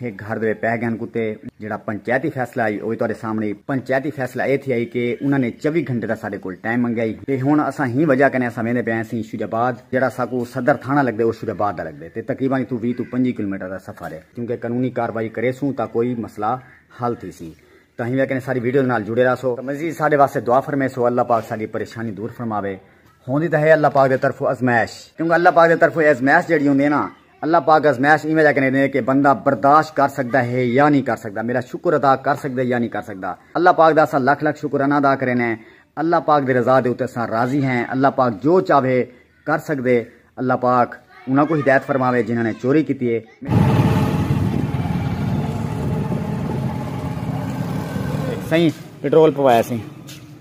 ہک گھر دے پئے گن کتے جیڑھا پنچایتی فیصلہ ہئی او وی تہاڈے سامنے ہئی پنچایتی فیصلہ اے تھیا ہئی کہ انہاں نے چوی گھنٹے دا ساڈے کول ٹائم منگیا ہئی تے ہن اساں ہی وجہ کنے اساں ویندے پئے ہسیں شیر آباد جیڑھا ساکوں صدر تھانہ لگدے او شیر آباد دا لگدے تے تقریبا اتھوں ویہہ توں پنجی کلومیٹر دا سفر اے کیونکہ قانونی کاروائی کریسوں تاں کوئی مسئلہ حل تھیسی تاں ہیویں کنے ساڈی ویڈیوز نال جڑے راہسو تاں مزید ساڈے واسطے دعا فرمیسو اللہ پاک ساڈی پریشانی دور فرماوے ہوندی تاں ہے اللہ پاک دے طرفوں ازمائش کیونکہ اللہ پاک دے طرفوں اے ازمائش جیڑھی ہوندی اے نا اللہ پاک ازمائش ایویں جا کنے دے کہ بندہ برداشت کر سکدا ہے یا نی کر سکدا میرا شکر ادا کر سکدے یا نی کر سکدا اللہ پاک دا اساں لکھ لکھ شکر انا ادا کرینے اللہ پاک دی رضا دے اتے اساں راضی ہیں اللہ پاک جو چاوے کر سکدے اللہ پاک انہاں کو ہدایت فرماوے جنہاں نے چوری کیتی ہے سائیں پٹرول پوایا سائیں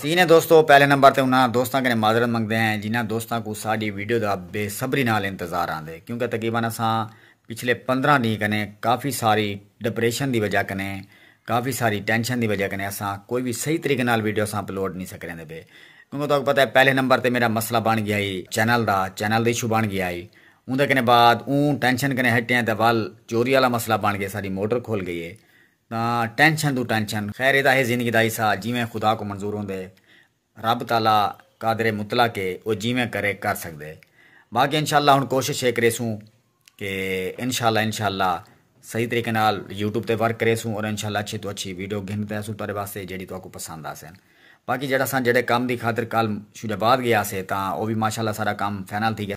سینے دوستو پہلے نمبر تے انہاں دوستاں کنے معذرت منگدے ہیں جنہاں دوستاں کو ساڈی ویڈیو دا بے صبری نال انتظار آندے کیونکہ تقریبا اساں پچھلے پندرہ ڈینھ کنے کافی ساری ڈپریشن دی وجہ کنے کافی ساری ٹینشن دی وجہ کنے اساں کوئی وی صحیح طریقے نال ویڈیو اساں اپلوڈ نی سا کریندے پے کیونکہ تہاکوں پتہ ہے پہلے نمبر تے میڈا مسئلہ بن گیا ہئی channel the channel the issue بن گیا ہئی اوندے کنے بعد اوں ٹینشن کنے ہٹیاں تے ول چوری آلا مسئلہ بن گیا ساڈی موٹر کھل گئی ہے تاں ٹینشن توں ٹینشن خیر اے تاں ہے زندگی دا حصہ جیویں خدا کوں منظور ہوندے رب تعالی قادر مطلق ہے او جیویں کرے کر سگدے باقی انشاء اللہ ہن کوشش اے کریسوں کہ انشاء اللہ انشاء اللہ صحیح طریقے نال یوٹیوب تے ورک کریسوں اور انشاء اللہ اچھی تو اچھی ویڈیو گھن تے اسوں تہاڈے واسطے جیڑھی تہاکوں پسند آسن باقی جیڑھا اساں جیڑھے کم دی خاطر کل شجاع آباد گیاسے تاں او وی ماشاء اللہ سارا کم فائنل تھی گیا۔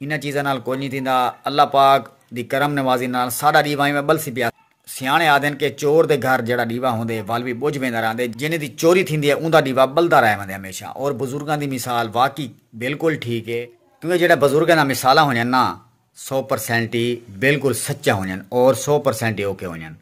انہاں چیزاں نال کجھ نی تھیندا، اللہ پاک دی کرم نوازی نال ساڈا ڈیوا ایویں بلسی پیا۔ سیاݨے آہدن کہ چور دے گھر جیڑھا ڈیوا ہوندے ول وی بجھ ویندا رہندے، جینہہ دی چوری تھیندی اے اوندا ڈیوا بلدا رہ ویندے ہمیشہ اور بزرگاں دی مثال واقعی بالکل ٹھیک اے، کیونکہ جیڑھے بزرگاں دا مثالاں ہونجن نا سو پرسینٹ ای بالکل سچے ہونجن اور سو پرسینٹ ای اوکھے ہونجن،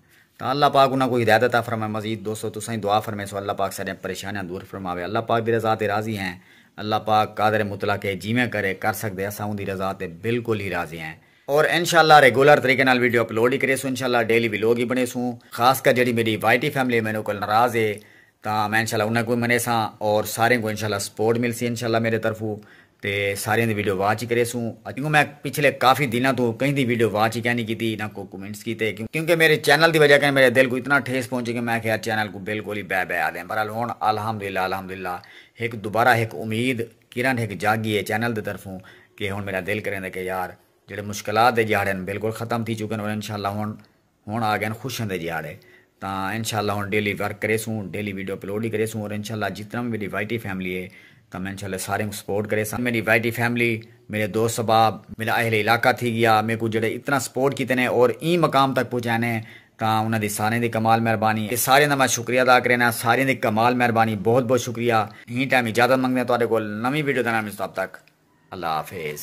تاں اللہ پاک انہاں کوں ہدایت عطا فرمائے مزید دوستو تساں وی دعا فرمیسو اللہ پاک ساڈیاں پریشانیاں دور فرماوے اللہ پاک دی رضا تے راضی ہیں اللہ پاک قادر مطلق ہے جیویں کرے کر سگدے اساں اوندی رضا تے بالکل ہی راضی ہیں اور انشاءاللہ ریگولر طریقے نال ویڈیو اپلوڈ ہی کریسوں انشاءاللہ ڈیلی ولاگ ہی بنڑیسوں خاص کر جیڑھی میڈی وائی ٹی فیملی ہے مینوں کول ناراض ہے تاں میں انشاءاللہ انہاں کوں وی منیساں اور ساریاں کوں انشاءاللہ سپورٹ ملسی انشاءاللہ میڈے طرفوں تے ساریاں دی ویڈیو واچ ہی کریسوں کیونکہ میں پچھلے کافی دناں توں کہیں دی ویڈیو واچ ہی کینی کیتی نہ کوئی کمنٹس کیتے کیونکہ میڈے چینل دی وجہ کنے میڈے دل کوں اتنا ٹھیس پہنچی کہ میں آکھیا چینل کوں بالکل ہی بائے بائے آدیں برحال ہن الحمدللہ الحمدللہ ہک دوبارہ ہک امید کرن ہک جاگی ہے چینل دی طرفوں کہ ہن میڈا دل کریندے کہ یار جیڑھے مشکلات دے جھاڑے ہن بالکل ختم تھی چکن اور انشاءاللہ ہن ہن آ گئن خوشیاں دے ڈیہاڑے تاں انشاء اللہ ہن ڈیلی ورک کریسوں ڈیلی ویڈیو اپلوڈ ہی کریسوں اور انشاء اللہ جتنا وی میڈی وائی ٹی فیملی ہے تاں میں انشاء اللہ ساریں کوں سپورٹ کریساں میڈی وائی ٹی فیملی میڈے دوست احباب میڈا اہل علاقہ تھی گیا میکوں جیہڑے اتنا سپورٹ کیتے نے اور ایں مقام تک پہنچائے نے تاں انہاں دی ساریں دی کمال مہربانی ہے ساریں دا میں شکریہ ادا کرینا ساریں دی کمال مہربانی بہت بہت شکریہ ایں ٹائم اجازت منگدیاں تہاڈے کول نویں ویڈیو دے نال ملسوں تب تک اللہ حافظ۔